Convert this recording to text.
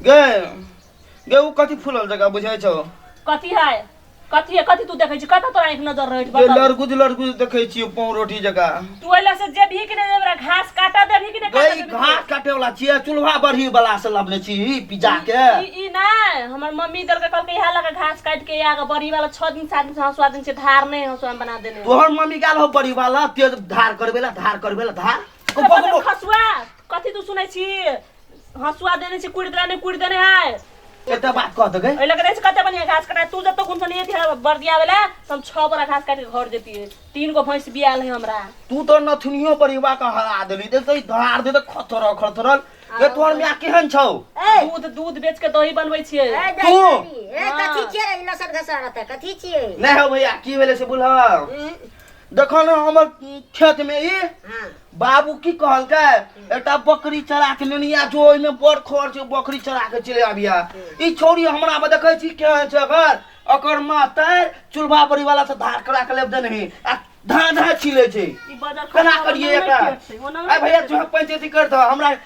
गे गे उ कथी फूलल जगह बुझै छौ कथी है कथी है कथी तू देखै छी कतऽ तोरा एक नजर रहै छै गे बता लड़गुज लड़गुज देखै छियौ पाँव रोटी जगह तू एला से जेबही कि नहि जेबरा घास काटऽ देबही कि नहि गे काटऽ ई देबही घास काटे वाला छियै चूल्हा बढ़ी वाला से लबने छी ई पिज्जा के ई ई नहि हमर मम्मी देलकै कहलकै इएह लऽ कऽ घास काटि कऽ आग बड़ी वाला छओ दिन सात दिन से हँसुआ दिन छै धार नहि हँसुआ मे बना देने है। तोहर मम्मी गेल हो बड़ी वाला तेज धार करबे ला धार करबे ला धार को- को- को- को- खसुआ कथी तू सुनै छी हसुआ देने छी कुड़ि देने कुड़ि देने है एकटा बात कह दगे एहि लगे देने कते बढ़िया घास कटा तू जतो गुन सनी थी बर्दिया वाला तो हम छह बड़ा घास काट के घर देती है तीन गो भैंस बियाल है हमरा तू तो नथुनियो पर युवा का हरा देली देख तो धार दे तो खतरल खतरल ये तोहर मिया केहन छौ ए दूध दूध बेच के दही बनबै छियै ए तू? दही ए कथी छियै रे ई लसर घसर रहतै कथी छियै नहीं हो भैया की भेले से बोलह देखो ना हमर खेत में ई हाँ बाबू की कहलकै एकटा बकरी चरा के लेनी आ जो ओहिमे बड़ खर्च छै, बकरी चरा के चले आबिया ई छौरी हमरा में देखै छी केहन छै एकर एकर माँ तैर चूल्हा बड़ी वाला से धार करा के लेब देने ही आ धाँ धाँ छिले छै ई बजर केना खराब करिए ओना एकरा नहि खेतै, ओना नहि आइ भैया खेतै। जो पंचायती कर दो हमरा